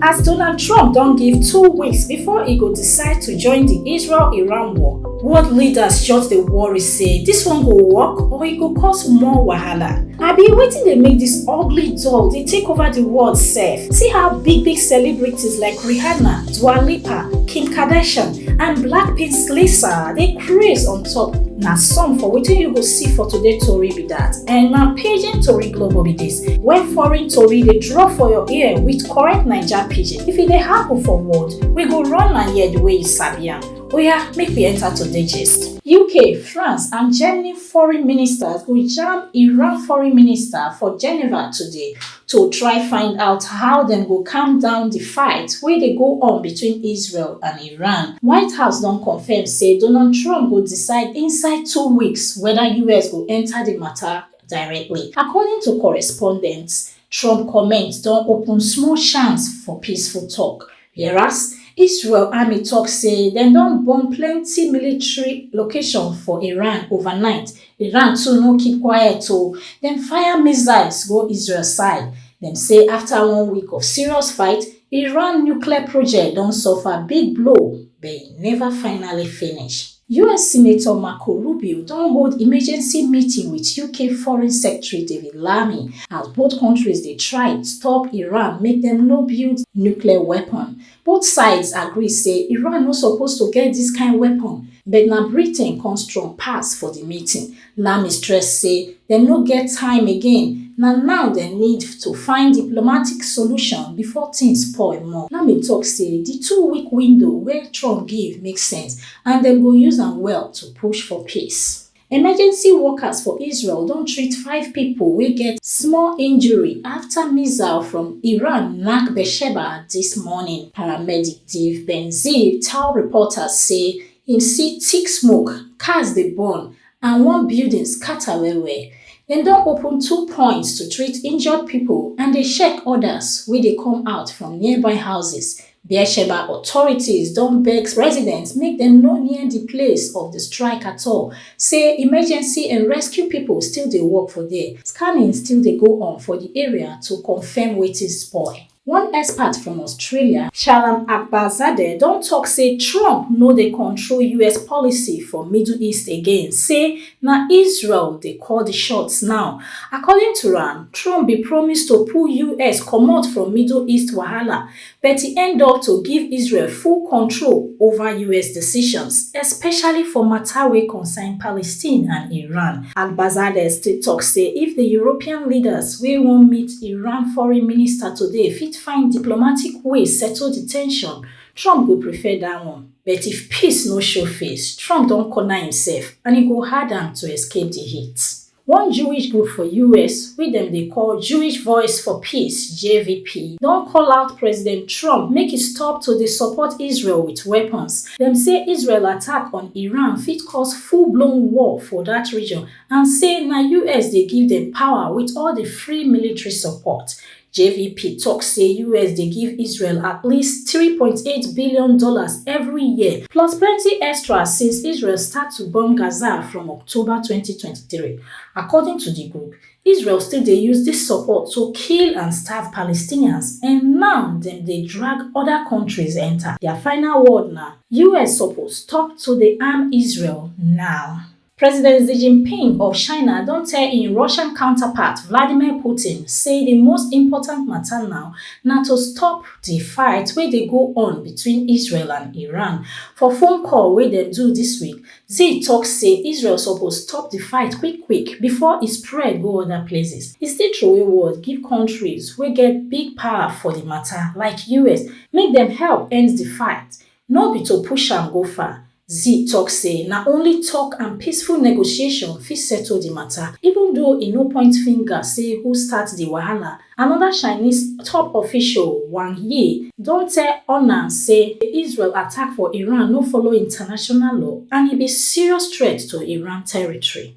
as Donald Trump don give two weeks before e go decide to join di Israel-Iran war. World leaders just dey worry say dis one go work or e go cause more wahala. Abi wetin dey make dis ugly doll dey take over di world sef? See how big big celebrities like Rihanna, Dua Lipa, Kim Kardashian and Blackpink Lisa dey craze on top. Na some for wetin you go see for today tori be dat and na paging tori global be dis. Where foreign tori dey drop for your ear with correct Naija pidgin. If e dey happen for world, we go run am here the way you sabi am. Oya, make we enter today gist. UK, France and Germany foreign ministers go jam Iran foreign minister for Geneva today to try find out how dem go calm down di fight wey dey go on between Israel and Iran. White House don confirm say Donald Trump go decide inside two weeks whether US go enter di matter directly. According to correspondents, Trump comments don open small chance for peaceful talk, whereas Israel army talk say dem don bomb plenty military location for Iran overnight. Iran too no keep quiet o, dem fire missiles go Israel side. Dem say after one week of serious fight, Iran nuclear project don suffer big blow but e never finally finish. US Senator Marco Rubio don hold emergency meeting with UK Foreign Secretary David Lammy as both countries dey try stop Iran make dem no build nuclear weapon. Both sides agree say Iran no suppose to get dis kind weapon but na Britain come strong pass for di meeting Lamy stress say dem no get time again, na now dem need to find diplomatic solution before tins spoil more. Lamy tok say di two-week window wey Trump give make sense and dem go use am well to push for peace. Emergency workers for Israel don treat five pipo wey get small injury afta missile from Iran nack Beersheba dis morning. Paramedic Ziv Ben-Ziv tell reporters say Him see thick smoke, cars dey burn and one building scatter well well. Dem don open two points to treat injured pipo and dey check odas wey dey come out from nearby houses. Beersheba authorities don beg residents make dem no near di place of di strike at all, say emergency and rescue pipo still dey work for there. Scanning still dey go on for di area to confirm wetin spoil. One expert from Australia, Shalom Akbarzadeh, don tok say Trump no dey control US policy for Middle East again, say na Israel dey call di shots now. According to am, Trump bin promise to pull US comot from Middle East wahala, but e end up to give Israel full control over US decisions, especially for mata wey concern Palestine and Iran. Akbarzadeh still tok say if di European leaders wey wan meet Iran foreign minister today fit find diplomatic way settle di tension, Trump go prefer dat one. But if peace no show face, Trump don corner imsef and e go hard am to escape di heat. One Jewish group for us wey dem dey call Jewish Voice for Peace, JVP, don call out President Trump make e stop to dey support Israel wit weapons. Dem say Israel attack on Iran fit cause full-blown war for dat region and say na us dey give dem power wit all di free military support. JVP tok say us dey give Israel at least three point eight billion dollars every year plus plenty extra since Israel start to bomb Gaza from October twenty twenty three. According to di group, Israel still dey use dis support to kill and starve Palestinians and now dem dey drag oda kontris enta. Dia final word na, us suppose stop to dey arm Israel now. President Xi Jinping of China don tell im Russian counterpart Vladimir Putin say di most important mata now na to stop di fight wey dey go on between Israel and Iran. For phone call wey dem do dis week, Xi tok say Israel suppose stop di fight quick quick bifor e spread go oda places. E still throway word give kontris wey get big power for di mata, like US, make dem help end di fight. No be to push am go far, Xi tok say na only tok and peaceful negotiation fit settle di mata, even though e no point finger say who start di wahala. Anoda Chinese top official, Wang Yi, don tell Ornan say Israel attack for Iran no follow international law and e be serious threat to Iran territory.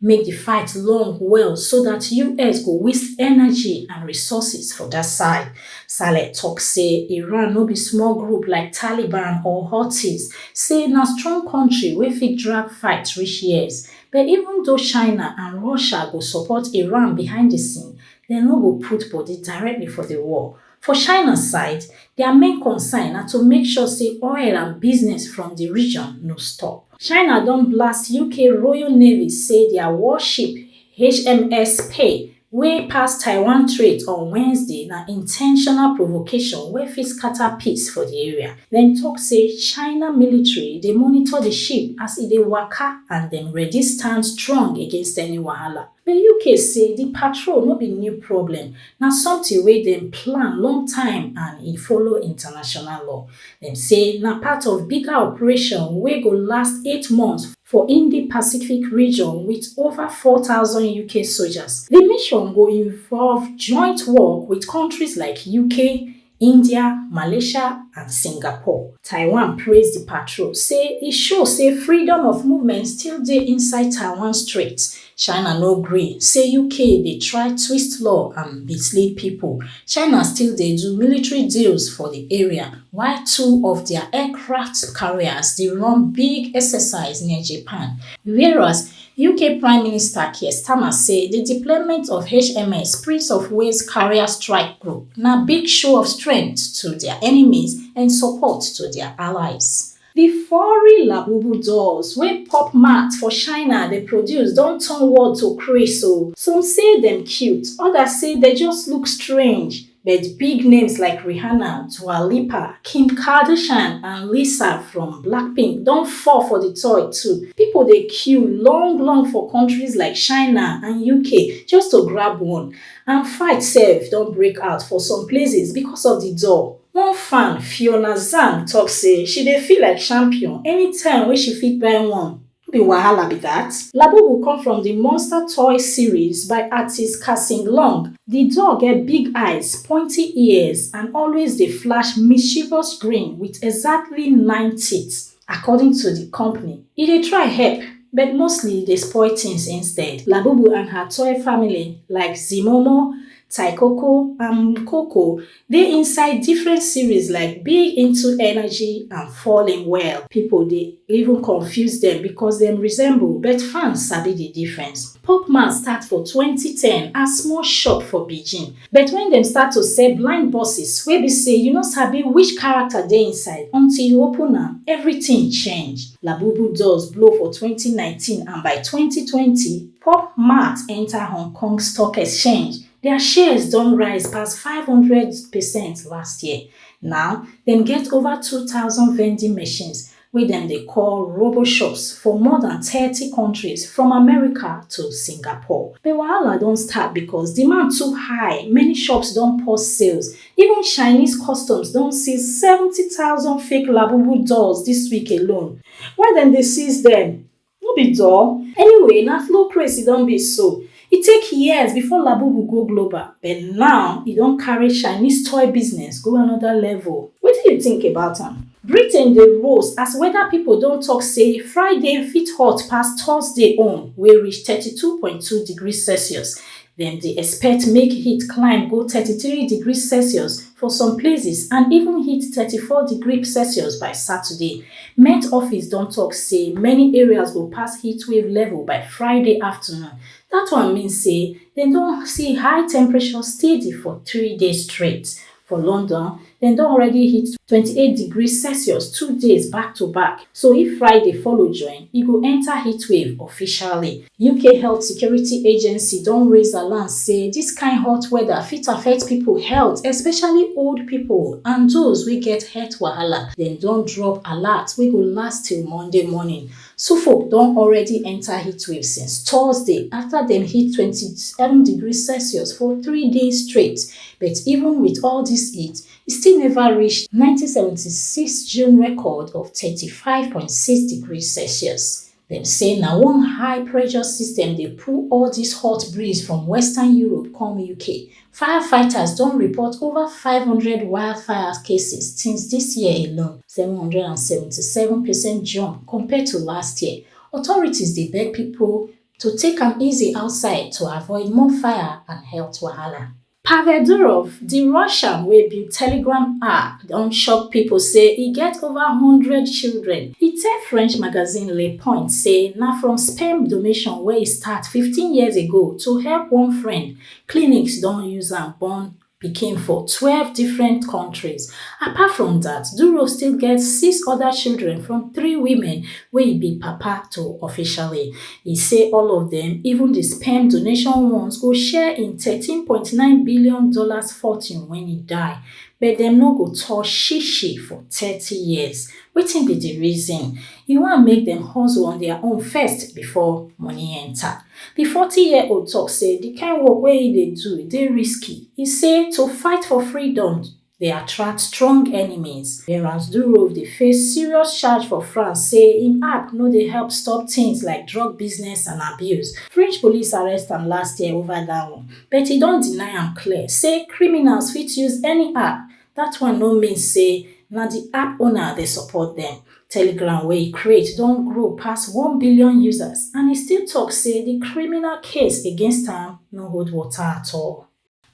make di fight long well so dat us go waste energy and resources for dat side. Saleh tok say Iran no be small group like Taliban or Houthis, say na strong kontri wey fit drag fight reach years. But even though China and Russia go support Iran behind di scene, dem no go put body directly for di war. For China side, dia main concern na to make sure say oil and business from di region no stop. China don blast UK Royal Navy say dia warship HMS Spey wey pass Taiwan Strait on Wednesday na intentional provocation wey fit scatter peace for di area. Dem tok say China military dey monitor di ship as e dey waka and dem ready stand strong against any wahala. The UK say di patrol no be new problem, na something wey dem plan long time and e follow international law. Dem say na part of bigger operation wey go last eight months for Indo-Pacific region with over four thousand UK soldiers. Di mission go involve joint work with countries like UK, India, Malaysia and Singapore. Taiwan praise di patrol, say e show say freedom of movement still dey inside Taiwan Strait. China no gree, say UK dey try twist law and mislead pipo. China still dey do military deals for di area, while two of dia aircraft carriers dey run big exercise near Japan. Whereas, Uk Prime Minister Keir Starmer say di deployment of HMS Prince of Wales carrier strike group na big show of strength to dia enemies and support to dia allies. Di furry Labubu dolls wey pop mart for China dey produce don turn world to craze o. Some say dem cute, odas say dem just look strange. But big names like Rihanna, Dua Lipa, Kim Kardashian and Lisa from Blackpink don fall for di toy too. Pipo dey queue long long for kontris like China and UK just to grab one and fight sef don break out for some places becos of di doll. One fan, Fiona Zhang tok say she dey feel like champion anytime wey she fit buy one. No be wahala be that? Labubu come from the Monster Toy series by artist Kasim Long. The doll get big eyes, pointy ears and always dey flash mischievous grin with exactly nine teeth. According to the company, e dey try help but mostly e dey spoil things instead. Labubu and her toy family like Zimomo, Taikoko and Mkoko Dey inside different series like big into energy and fall in well people dey even confuse dem because dem resemble but fans sabi the difference Popman start for twenty ten as small shop for Beijing but when dem start to sell blind buses wey be say you no sabi which character dey inside until you open am everything change Labubu doors blow for twenty nineteen and by twenty twenty Pop Mart enter Hong Kong Stock Exchange Dia shares don rise pass five hundred percent last year. Now, dem get ova two thousand vending machines, wey dem dey call RoboShops, for more dan thirty kontris, from America to Singapore. But wahala don start becos demand too high, many shops don pause sales. Even Chinese customs don seize seventy thousand fake Labubu dolls dis week alone. Why dem dey seize dem? No be dull? Anyway, na slow craze e don be so. E take years before Labubu go global, but now e don carry Chinese toy business go another level. Wetin you think about am? Britain dey roast as weather people don talk say Friday fit hot pass Thursday own wey reach thirty two point two degrees Celsius, Dem dey expect make heat climb go thirty three degrees Celsius for some places and even hit thirty four degree Celsius by Saturday. Met office don tok say many areas go pass heatwave level by Friday afternoon. Dat one mean say dem don see high temperature steady for three days straight. For London, dem don already hit twenty eight degrees Celsius two days back to back, so if Friday follow join, e go enter heatwave officially. UK Health Security Agency don raise alarm say dis kind hot weather fit affect pipo health, especially old pipo and those wey get health wahala. Dem don drop alert wey go last till Monday morning. Suffolk don already enta heatwave since Thursday afta dem hit twenty seven degrees Celsius for three days straight, but even wit all dis heat, e still neva reach nineteen seventy six June record of thirty five point six degrees Celsius. Dem say na one high pressure system dey pull all dis hot breeze from western Europe come UK, Firefighters don report over five hundred wildfire cases since dis year alone, seven hundred and seventy seven percent jump compared to last year. Authorities dey beg pipo to take am easy outside to avoid more fire and health wahala. Pavel Durov, di Russian wey build Telegram app don shock pipo say e get over one hundred children. E tell French magazine Le Point say na from sperm donation wey e start fifteen years ago to help one friend Clinics don use am born pikin for twelve different kontris. Apart from dat, Duro still get six oda children from three women wey e be papa to officially. E say all of dem, even di sperm donation ones, go share im thirteen point nine billion dollars fortune wen e die, but dem no go touch shi-shi for thirty years. Wetin be di reason? E want make dem hustle on dia own first before money enta. Di forty year old tok say di kain work wey im dey do dey risky, e say to fight for freedom dey attract strong enemies, whereas Durov dey face serious charge for France say im app no dey help stop tins like drug business and abuse. French police arrest am last year ova dat one, but e don deny am clear say criminals fit use any app Dat one no mean say na di app owner dey support dem. Telegram wey e create don grow pass one billion users and e still tok say di criminal case against am no hold water at all.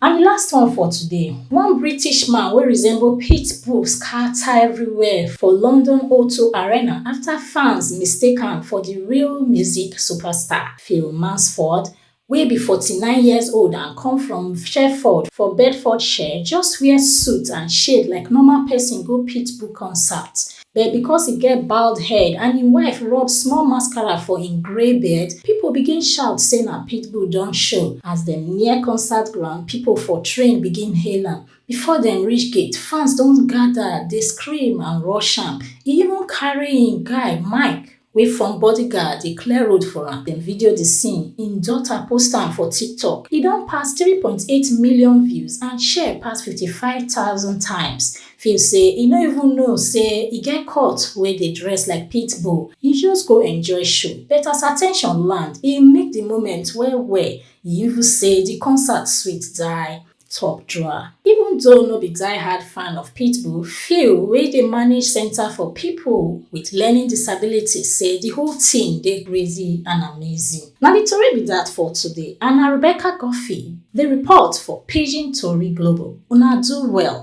And di last one for today, one British man wey resemble pit bull scata everywhere for London O two Arena afta fans mistake am for di real music superstar, Phil Mansford, wey be forty nine years old and come from sherford for bedfordshire just wear suit and shade like normal pesin go pitbull concert but because e get bald head and im wife rub small mascara for im grey beard pipo begin shout say na pitbull don show as dem near concert ground pipo for train begin hail am before dem reach gate fans don gada dey scream and rush am e even carry im guy mike wey form bodyguard dey clear road for am, dem video di scene, im daughter post am for TikTok. E don pass three point eight million views and share pass fifty five thousand times. Feel say e no even know say e get cult wey dey dress like pit bull, e just go enjoy show but as at ten tion land, e milk di moment well well, e even say di concert sweet die. top drawer. Even though no be die-hard fan of Pitbull, Phil wey dey manage Center for People with Learning Disabilities say the whole thing dey crazy and amazing. Na the tori be that for today and na Rebecca Guffey dey report for Pidgin Tori Global. Una do well.